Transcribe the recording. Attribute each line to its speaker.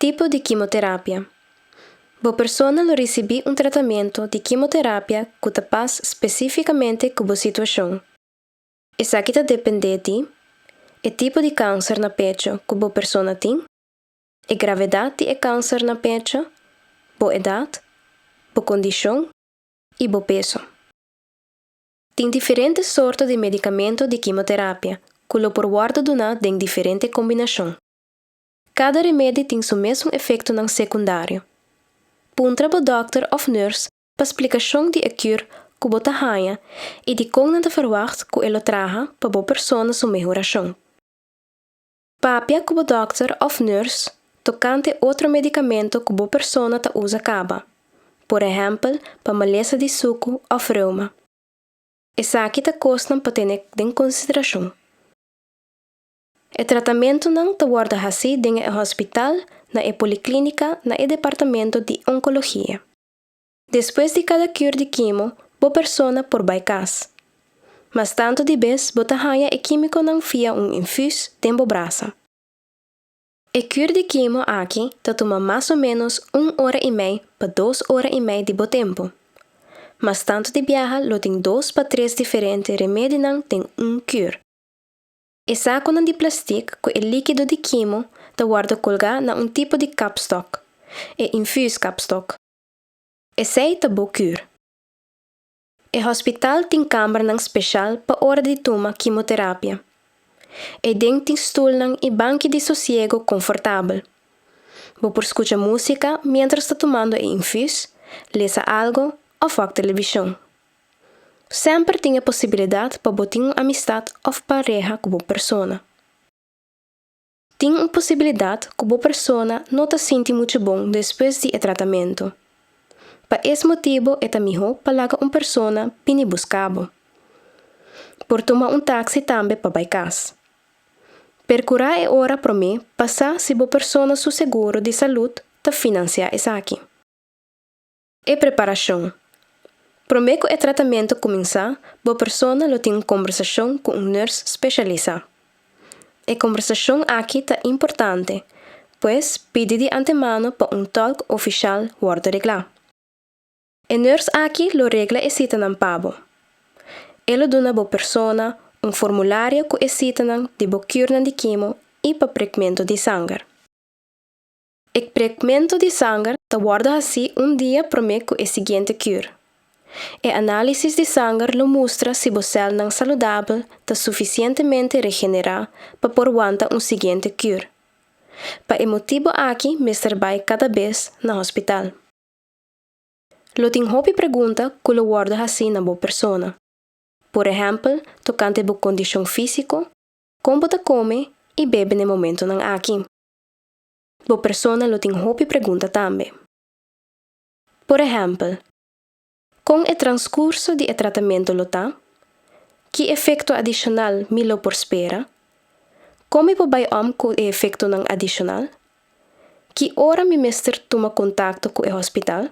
Speaker 1: Tipo di kimoterapia. Bo persona lo risibí un tratamentu di kimoterapia ku ta pas spesífikamente ku bo situashon. Esaki ta dependé di, e tipo di kanser na pecho ku bo persona tin, e gravedat di e kanser na pecho, bo edat, bo kondishon i bo peso. Tin diferente sorto di medicamento di kimoterapia cu lo por wordo duna den diferente combinacion. Cada remedi tin su mesun efectonan secundario. Puntra bo dokter of nurse pa splicacion di e cur cu bo ta haña y di con nan ta verwacht cu e lo traha pa bo persona su mehoracion. Papia ku bo dòkter òf nùrs tokante otro medikamento ku bo persona ta usa kaba, por ehèmpel pa malesa di suku òf reuma. Esaki ta kosnan pa tene den konsiderashon. E tratamentunan ta wòrdu hasí den e hospital, na e poliklínika, na e departamento di onkologia. Despues di cada cur di quimo bo persona por bai cas. Mas tanto di bes bo ta haya e quimiconan via un infus den bo brasa. E cur di quimo aki ta tuma mas o menos un ora y mei pa dos ora y mei di bo tempo. Mas tanto di biaha lo tin dos pa tres diferente remedinan den un cur. E saconan di plastic cu e liquido di quimo ta warda colga na un tipo di capstock, e infus capstock. Esei ta bo cur. E hospital tin cambernan special pa ora di tuma kimoterapia. Eiden tin stoelnan y banki di sosiego confortabel. Bo por scucha musica mientras ta tumando e infus, lesa algo of wak television. Semper tin e posibilidad pa bo tin un amistad of pareha cu bo persona. Tin un posibilidat ku bo persona no ta sinti muchu bon despues di e tratamentu. Pa es motibu e ta mihó pa laga un persona bini buska bo. Por tuma un taksi tambe pa bai kas. Perkurá e ora promé pa sa si bo persona su seguro di salud ta finansiá esaki. E preparashon. Promé ku e tratamentu kuminsá, bo persona lo tin un kombersashon ku un nèrs speshalisá. E kombersashon aki ta importante, pues pidi di antemano pa un tòlk ofishal wòrdu reglá. E nèrs aki lo regla e sitanan pa bo. E lo duna bo persona un formulario ku e sitanan di bo kurnan di kimo i pa prekmentu di sanger. E kprekmento di sanger ta wòrdu hasí un dia promé ku e siguiente kur. E análisis di sanger lo mustra si bo sèlnan saludabel ta sufisientemente regenerá pa por wanta un siguiente kur. Pa e motibu aki mester bai kada bes na hospital. Lo tin hopi pregunta ku lo wòrdu hasí na bo persona. Por ehèmpel, tokante bo kondishon físiko, kon bo ta kome i bebe n'e momentunan aki. Bo persona lo tin hopi pregunta tambe. Por ehèmpel, Kon e transkurso di e tratamentu lo ta? Ki efekto adishonal mi lo por spera? Kon mi por bai òm ku e efektonan adishonal? Ki ora mi mester tuma kontakto ku e hospital?